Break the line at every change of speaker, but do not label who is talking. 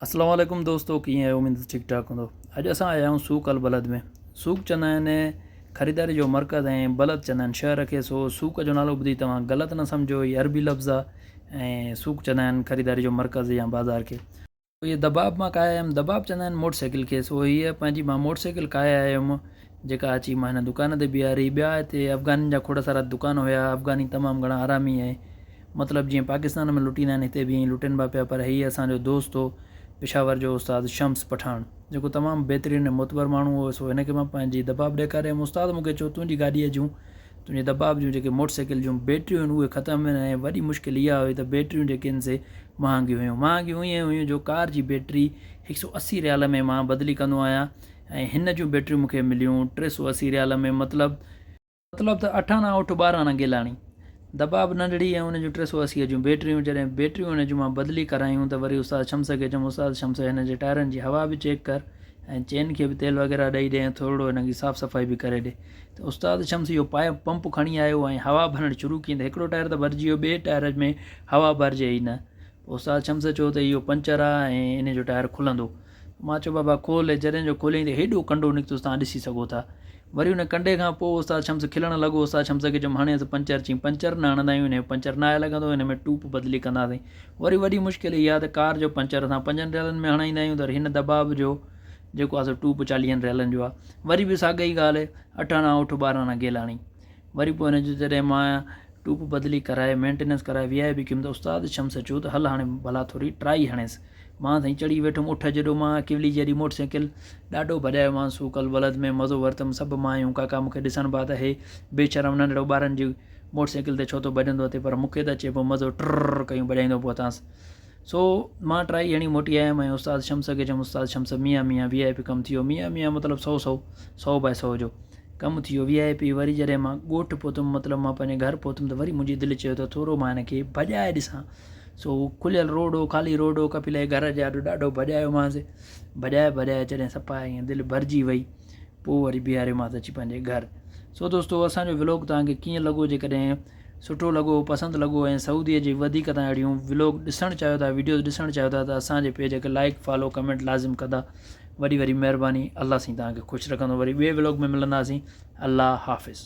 اسلام عليڪم دوستو ڪيئن آهيو اميد ته ٺيڪ ٺاڪ هوندو اڄ اسان آيا آهيون سوق البلد ۾ سوق چوندا آهن خريداري جو مرڪز ۽ بلد چوندا آهن شهر کي سو سوق جو نالو ٻڌي توهان غلط نه سمجهو هي عربي لفظ آهي ۽ سوق چوندا آهن خريداري جو مرڪز يا بازار کي هي دباب مان کائي آيم دباب چوندا آهن موٽر سائيڪل کي سو هيء پنهنجي مان موٽر سائيڪل کائي آيم جيڪا اچي مان هن دڪان تي بيهاري ٻيا هتي افغانين جا کوڙ سارا دڪان هيا افغاني تمام گهڻا حرامي ۽ مطلب جيئن پاڪستان ۾ لٽيندا آهن هتي به ائين ئي لٽين با پيا پر هيء اسان جو دوست هو پشاور جو استاد شمس پٺاڻ جيڪو تمام بهترين ۽ معتبر ماڻهو هو سو هن کي مان پنهنجي دباب ڏيکاري ويم استاد مون کي چيو تنهنجي گاڏيء جون تنهنجي دباب جون جيڪي موٽر سائيڪل جون بيٽريون آهن اهي ختم آهن ۽ وڏي مشڪل اها هئي ته بيٽريون جيڪي آهن سي مهانگيون هيون مهانگيون ائين هيون جو ڪار جي بيٽري هڪ سؤ اسي ريال ۾ مان بدلي ڪندو آهيان ۽ هن جون بيٽريون مون کي مليون ٽي سؤ اسي ريال ۾ مطلب مطلب ته اٺاڻا اٺ ٻاراڻا گيلاڻي. دٻاٻ ننڍڙي ۽ ان جون ٽي سؤ اسي جون بيٽريون جڏهن بيٽريون ان جون مان بدلي ڪرايون ته وري استاد شمس کي چيم استاد شمس هن جي ٽائرن جي هوا به چيڪ ڪر ۽ چين کي به تيل وغيره ڏئي ڏي ۽ ٿورڙو هنن جي صاف صفائي به ڪري ڏي ته استاد شمس اهو پائپ پمپ کڻي آيو ۽ هوا ڀرڻ شروع ڪين ته هڪڙو ٽائر ته ڀرجي ويو ٻئي ٽائر ۾ هوا ڀرجي ئي نه پوء استاد شمس چيو ته اهو پنچر آهي ۽ ان جو ٽائر کلندو مان چيو بابا کول هي جڏهن جو کوليائين ته هيڏو ڪنڊو نڪتس توهان ڏسي سگهو ٿا. وري ان ڪنڊي کان پوء استاد شمس کلڻ لڳو استاد شمس کي چيم هڻيس پنچر چيم پنچر نه هڻندا آهيون هن جو پنچر ناهي لڳندو هن ۾ ٽوپ بدلي ڪنداسين وري وڏي مشڪل اها ته ڪار جو پنچر اسان پنجن ريلن ۾ هڻائيندا آهيون ته هن دٻاب جو جيڪو آهي سو ٽوپ چاليهن ريلن جو آهي وري به ساڳئي ڳالهه اٺ آنا اٺ ٻارهن آنا گيلاڻي وري پوء هن جو جڏهن مان ٽوپ بدلي ڪرائي مينٽيننس ڪرائي ويهائي به ڪيم ته استاد شمس چيو ته هل هاڻي ڀلا ٿوري ٽرائي هڻيس. مان سائين چڙهي ويٺم اٺ جيڏو مان ڪيولي جيڏي موٽر سائيڪل. ڏاڍو ڀڄايو مان سوڪ البلد ۾ مزو ورتم سڀ مايون ڪاڪا مون کي ڏسڻ بعد اهي بي شرم ننڍڙو ٻارن جي موٽر سائيڪل تي ڇو ٿو ڀڄندو اٿئي پر مون کي ته اچي پيو مزو ٽرررر ڪيون ڀڄائيندو پهتانس. سو مان ٽرائي هڻي موٽي آيم ۽ استاد شمس کي چيم استاد شمس ميان ميان وي آء پي ڪم ٿيو ميان ميان مطلب سو سو سو باء سو جو ڪم ٿيو وي آء پي وري جڏهن مان ڳوٺ پهتم مطلب مان پنهنجي گهر پهتم ته وري منهنجي دل چيو ته ٿورو مان هن کي ڀڄائي ڏسان سو کليل روڊ هو خالي روڊ هو ڪپيل جي گهر جي آڏو ڏاڍو ڀڄايومانس ڀڄائي ڀڄائي جڏهن صفا ائين دل ڀرجي وئي پوء وري بيهاريومانس اچي پنهنجي گهر سو دوستو اسان جو ولاگ توهان کي ڪيئن لڳو جيڪڏهن سٺو لڳو پسند لڳو ۽ سعودي جي وڌيڪ تان اهڙيون ولوگ ڏسڻ چاهيو ٿا ويڊيوز ڏسڻ چاهيو ٿا ته اسان جي پيج کي لائيڪ فالو ڪمينٽ لازم ڪندا وڏي وڏي مهرباني الله سائين توهان کي خوش رکندو وري ٻي ولوگ ۾ ملنداسين الله حافظ.